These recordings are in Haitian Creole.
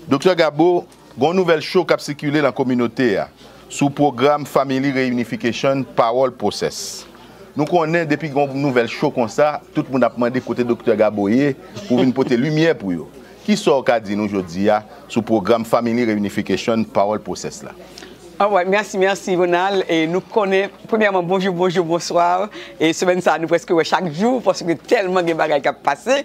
Doktè Gabo, gon nouvèl cho kap sikile lan kominote a sou pwogram Family Reunification Parole Process. Nou konnen depi gon nouvèl cho konsa, tout moun ap mande kote Doktè Gabo ye pou vin pote limyè pou yo. Kisa w ka di nou jodi a sou pwogram Family Reunification Parole Process la? Alright merci merci Ronald e nou konnen premyèman bonjou bonjou bonsoir e semèn sa nou preske wè chak jou paske tèlman gen bagay kap pase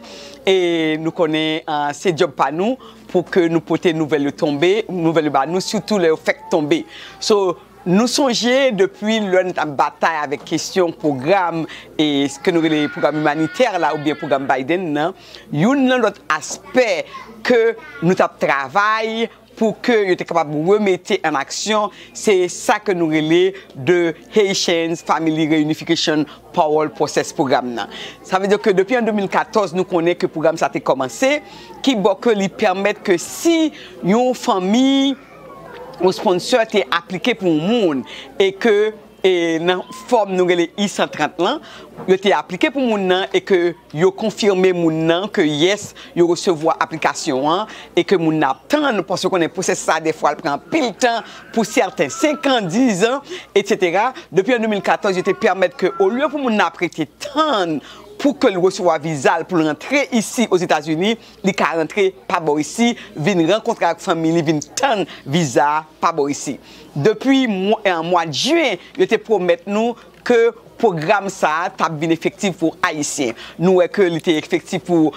e nou konnen se job pa nou pou ke nou pote nouvèl yo tonbe nouvèl yo ba nou sitou lè yo fèk tonbe so nou sonje depi lè nou tap batay avèk kesyon pwogram e ke nou rele pwogram imanitè la oubyen pwogram Biden nan youn nan lòt aspè ke nou tap travay pou ke yo te kapab remete an aksyon, se sa ke nou rele The Haitians Family Reunification Parole Process Program nan. Sa vle di ke depi an 2014 nou konnen ke pwogram sa te kòmanse, ki bò ke li pèmèt ke si yon fanmi, yon sponsor te aplike pou yon moun, e ke. e nan fòm nou rele I-130 lan, yo te aplike pou moun nan e ke yo konfime moun nan ke yes, yo resevwa aplikasyon an e ke moun nan ap tann, paske ou konnen pwosèsis sa dèfwa l pran anpil tan, pou sèten 5 an, 10 an, etsetera. Depi an 2014, yo te pèmèt ke olye pou moun nan ap rete tann pou ke l resevwa viza l pou l rantre isi Ozetazini, Li ka rantre pa bò isi, vin rankontre ak fanmi li, vin tann viza a pa bò isi. Depi mwad Juin, yo te pwomèt nou ke pwogram sa a tap vin efektif pou Ayisyen. Nou wè ke li te efektif pou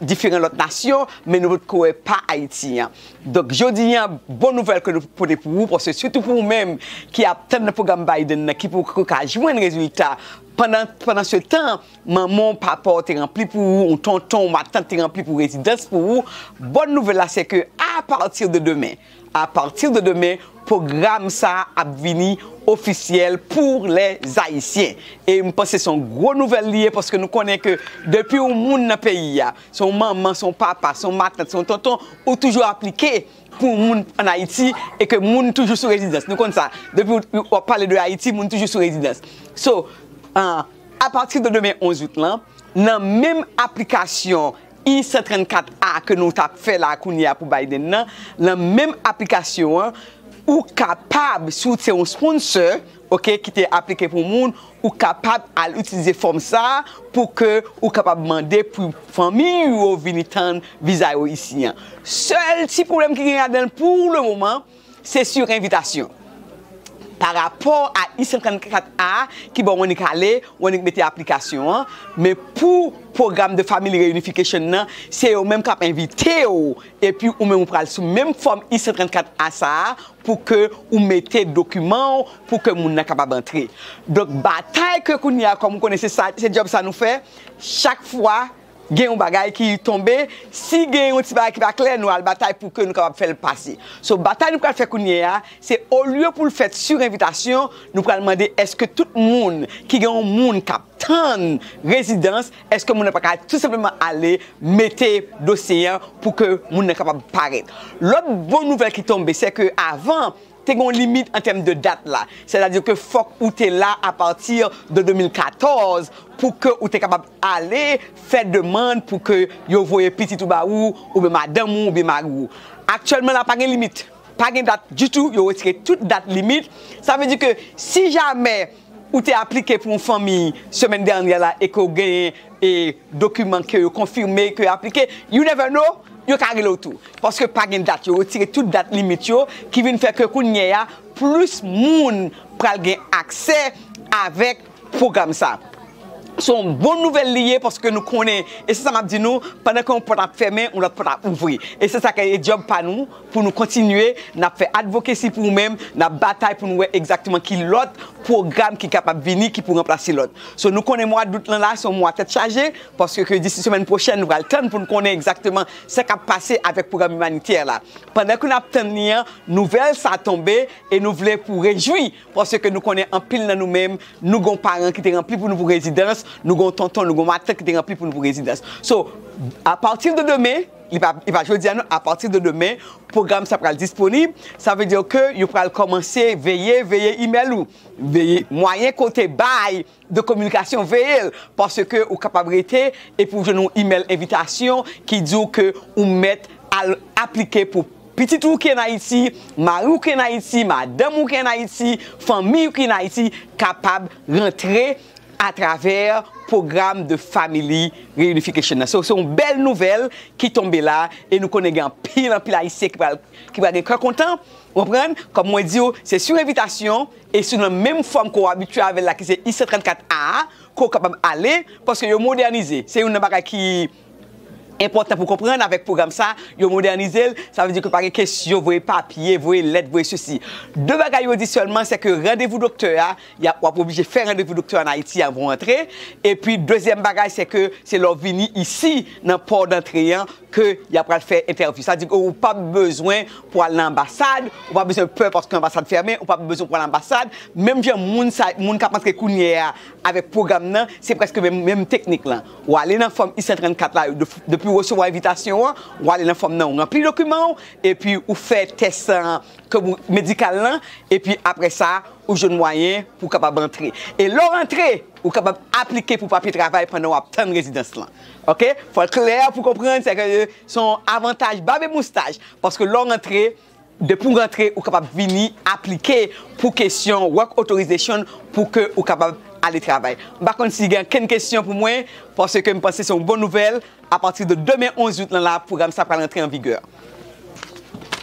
diferan lòt nasyon, men nou potko wè pa Ayiti an. Donk jodi a, bon nouvèl ke nou pote pou ou, paske sitou pou ou menm ki ap tann pwogram Biden nan ki poko ka jwenn rezilta pandan se tan, Manman w, papa w te ranpli pou ou, ou tonton, ou matant te ranpli pou rezidans pou ou, bòn nouvèl la se ke a pati de demen, a pati de demen pwogram sa a ap vini ofisyèl pou lè Zayisyen. E m panse se yon gwo nouvèl li ye paske nou konnen ke depi yon moun nan peyi a, se yon manman, se yon papa, se yon matant, se yon tonton, ou toujou aplike pou yon moun an Ayiti e ke moun toujou sou rezidans. Nou konn sa. Depi w ap pale de Ayiti, moun toujou sou rezidans. So. Apati de demen 11 out lan, nan menm aplikasyon I-134 a ke nou t ap fè la kounye a pou Biden nan, nan menm aplikasyon an, ou kapab, si w se yon sponsor, ok, ki te aplike pou moun, ou kapab al itilize fòm sa a pou ke ou kapab mande pou fanmi ou yo vini tann viza yo isi an. Sèl ti pwoblèm ki gen ladan l pou le moman, Se sur envitasyon. Pa rapò a I 134 A ki bo Wonique ale, Wonique mete aplikasyon an, men pou Program de Family Reunification nan, se yo menm kap envite w epi ou menm ou pral sou menm fòm I 134 A sa a pou ke ou mete dokiman w pou ke moun nan kapab antre. Donk batay ke kounye a kòm ou konnen se sa, se djòb sa nou fè, chak fwa, Gen yon bagay ki tonbe, si gen yon ti bagay ki pa klè nou al batay pou ke nou kapab fè l pase. So batay nou pral fè kounye a, se olye pou l fèt sur envitasyon, nou pral mande èske tout moun ki gen yon moun k ap tann rezidans, èske moun nan pa ka tou senpleman ale mete dosye an pou ke moun nan kapab parèt. Lòt bon nouvèl ki tonbe, sè ke avan Te gen yon limit an tèm de dat la, sètadi ke fòk ou te la apati de 2014 pou ke ou te kapab ale fè demand pou ke yo voye pitit ou ba ou, oubyen madanm ou, oubyen mari ou. Aktyèlman la pa gen limit, pa gen dat ditou, yo retire tout dat limit, sa vle di ke si jamè. Ou te aplike pou yon fanmi semèn dènyè la e ke w genyen e dokiman ke yo konfime ke aplike, you never know, yo ka rele w tou. Paske pa gen dat, yo retire tout dat limit yo, ki vin fè ke kounyè a plis moun pral gen aksè avèk pwogram sa. Se yon bon nouvèl li ye paske nou konnen, e se sa m ap di nou, pandan ke yon pòt ap fèmen, yon lòt pòt ap ouvri. E se sa ke e djòb pa nou. Pou nou kontinye, n ap fè advocacy pou ou menm, n ap batay pou nou wè egzakteman ki lòt pwogram ki kapab vini ki pou ranplase lòt. So nou konnen mwa dout lan la se yon mwa tèt chaje, paske ke disi semèn pwochèn nou pral tann pou nou konnen egzakteman sa k ap pase avèk pwogram imanitè la. Pandan ke n ap tann li an, nouvèl sa a tonbe e nou vle pou rejwi, paske ke nou konnen anpil nan nou menm nou gon paran ki te ranpli pou nou pou rezidans, nou gon tonton, nou gon matant ki te ranpli pou nou pou rezidans. So, a pati de demen, Li pa li pa jodi a non, apati de demen pwogram sa pral disponib, sa vle di ke yo pral kòmanse veye veye imèl ou, veye mwayen ke w te bay de kominikasyon veye l, paske ou kapab rete epi w jwenn yon imèl envitasyon ki di w ke ou mèt al aplike pou pitit ou ki an Ayiti, mari w ki an Ayiti, madanm ou ki an Ayiti, fanmiy ou ki an Ayiti kapab rantre atravè pwogram de Family Reunification nan. So, se yon bèl nouvèl ki tonbe la e nou konnen gen anpil, anpil Ayisyen ki pral, ki pral gen kè kontan, ou konprann, kòm mwen di ou, se sou envitasyon e sou nan menm fòm ke w abitye avè l la ki se I-134 A a ke w kapab ale, paske yo modènize. Se youn nan bagay ki. Enpòtan pou konprann avèk pwogram sa, yo modènize l, sa vle di ke pa gen kesyon voye papye, voye lèt, voye sesi. De bagay yo di sèlman se ke randevou doktè a, w ap oblije fè randevou doktè a ann Ayiti anvan w antre, epi dezyèm bagay se ke se lè w vini isi nan pò dantre an ke y ap pral fè entèvyou. Sa vle di ke ou pa p bezwen pou al nan anbasad, ou pa bezwen pè paske anbasad fèmen, ou pa p bezwen pou al anbasad, menm jan moun sa, moun k ap antre kounyè a avèk pwogram nan, se prèske menm, menm teknik lan. Ou ale nan fòm I-134 la, depi ou resevwa envitasyon an, ou ale nan fòm nan, ou ranpli dokiman ou, epi ou fè tès medikal lan, epi apre sa, ou jwenn mwayen pou kapab antre. E lè w antre, ou kapab aplike pou papye travay pandan w ap tann rezidans lan. Ok? Fò l klè pou w konprann, sèke se yon avantaj bab e moustaj, paske lè w antre, Depi w rantre ou kapab vini aplike pou kesyon work authorization pou ke ou kapab ale travay. M pa konn si gen ankenn kesyon pou mwen, paske m panse se yon bon nouvèl, apati de demen 11 out lan la pwogram sa pral antre an vigè.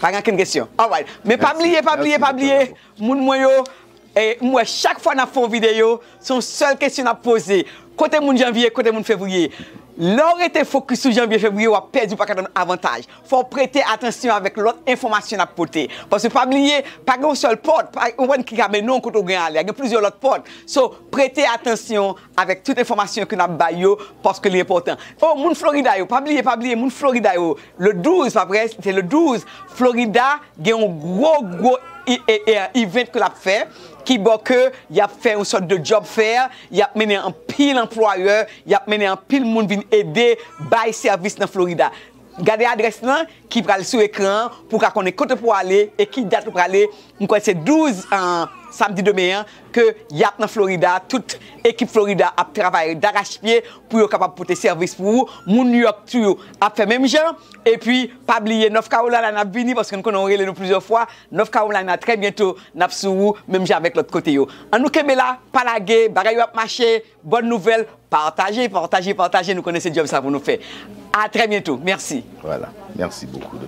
Pa gen ankenn kesyon? Alright. Men pa bliye, pa bliye, pa bliye, Moun mwen yo M wè chak fwa nap fè yon video se yon sèl kesyon nap poze Kote moun janvier kote moun fevrier Lè w rete fokis sou janvier fevrier wap pèdi w paka jwenn avantaj Fò w prete atansyon avèk lòt enfòmasyon nap pote Paske pa bliye pa gen yon sèl pòt pa yon pòt ki ka mennen w kote w gen ale a gen plizyè lòt pòt So prete atansyon avèk tout enfòmasyon ke nap bay yo paske li enpòtan Oh moun Florida yo pa bliye pa bliye moun Florida yo le 12 pa vre se le 12 Florida Gen yon gwo gwo event ke lap fè ki bo ke yap fè yon sort de job fair, yap mennen anpil anplwayè, yap mennen anpil moun vin ede bay sèvis nan Florida. Gade adrès lan ki pral sou ekran an pou w ka konnen kote pou w ale e ki dat ou prale, m kwè se 12 samdi demen an, ke yap nan Florida tout ekip Florida ap travay darach pye pou yo kapab pote sèvis pou ou, moun New York tou yo ap fè menm jan, epi pa bliye North Carolina nap vini paske nou konnen ou rele nou plizyè fwa, North Carolina trè byento nap sou ou menm jan avèk lòt kote yo. An nou kenbe la, pa lage, bagay yo ap mache, bòn nouvèl, pataje, pataje, pataje nou konnen se djòb sa pou nou fè. A trè byento, mèsi. Voilà, merci beaucoup.